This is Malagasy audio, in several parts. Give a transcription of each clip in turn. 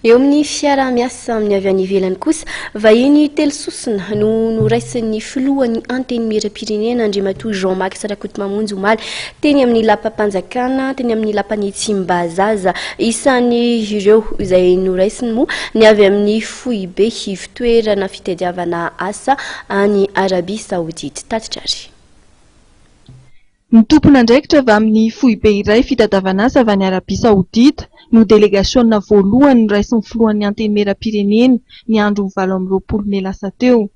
Eo amin'ny fiaraha-miasa amin'ny avy any ivelany kosa, vahiny telo sosona no noraisin'ny filohan'ny Antenimierampirenena Andriamatoa Jean Max Rakotomamonjy omaly teny amin'ny lapam-panjakana teny amin'ny lapan'ny Tsimbazaza. Isan'ireo izay noraisiny moa ny avy amin'ny foibe ivotoerana fitadiavana asa any Arabia Saodita. Tatitra àry. Ny tompon'andraikitra avy amin'ny foibe iray fitadavan'asa avy any Arabia Saodita no delegasiona voalohany noraisin'ny filohan'ny Antenimierampirenena ny andron'ny valo amby roapolo mey lasa teo.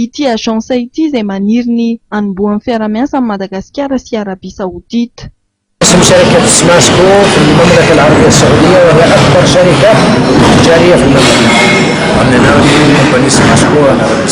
Ity agence ity izay maniry ny hanombohan'ny fiarahamiasa amin'i Madagasikara sy Arabia Saodita. Symusyarakah tsy masoko ny Mamlaka al-Arabia Saodia wa la akbar sharikah jariyah fil Mamlaka. Amin'ny anaran'ny kaompania sy masoko an'i Arabia Saodia.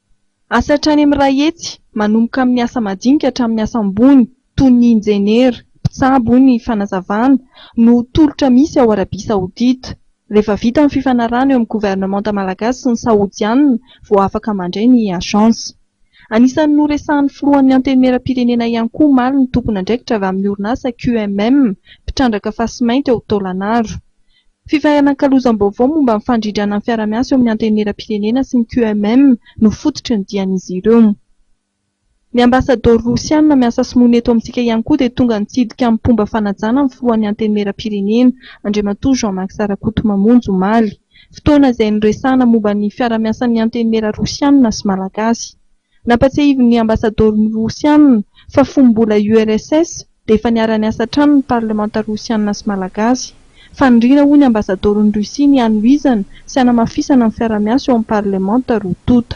Asa hatrany amin'ny iray hetsy, manomboka amin'ny asa madinika hatramin'ny asa ambony, toy ny injeniera, mpitsabo ny fanazavana, no tolotra misy ao Arabia Saodita. Rehefa vita ny fifanarahana eo amin'ny governemanta malagasy sy ny saodianina, vao afaka mandray ny agence. Anisan'ny noresahan'ny filohan'ny Antenimierampirenena ihany koa omaly ny tompon'andraikitra avy amin'ny orinasa QMM, mpitrandraka fasimainty ao Taolagnaro. Fifanakalozam-baovao momba ny fandrindrana ny fiarahamiasa eo amin'ny Antenimierampirenena sy ny QMM no fototry ny dian'izy ireo. Ny Ambasadaoro Rosiana miasa sy monina eto amintsika ihany koa dia tonga nitsidika amin'ny mpomba fanajana ny Filohan'ny Antenimierampirenena, Andriamatoa Jean Max Rakotomamonjy, omaly. Fotoana izay niresahana momba ny fiarahamiasan'ny Antenimiera Rosiana sy Malagasy. Nampatsiahivin'ny Ambasadaoro Rosiana fa fony mbola URSS dia efa niara-niasa hatrany ny Parlemanta Rosiana sy Malagasy. Faniriana hoy ny Ambasadaoron'i Russie ny hanohizana sy hanamafisana ny fiara-miasa eo amin'ny Parlemanta roa tonta.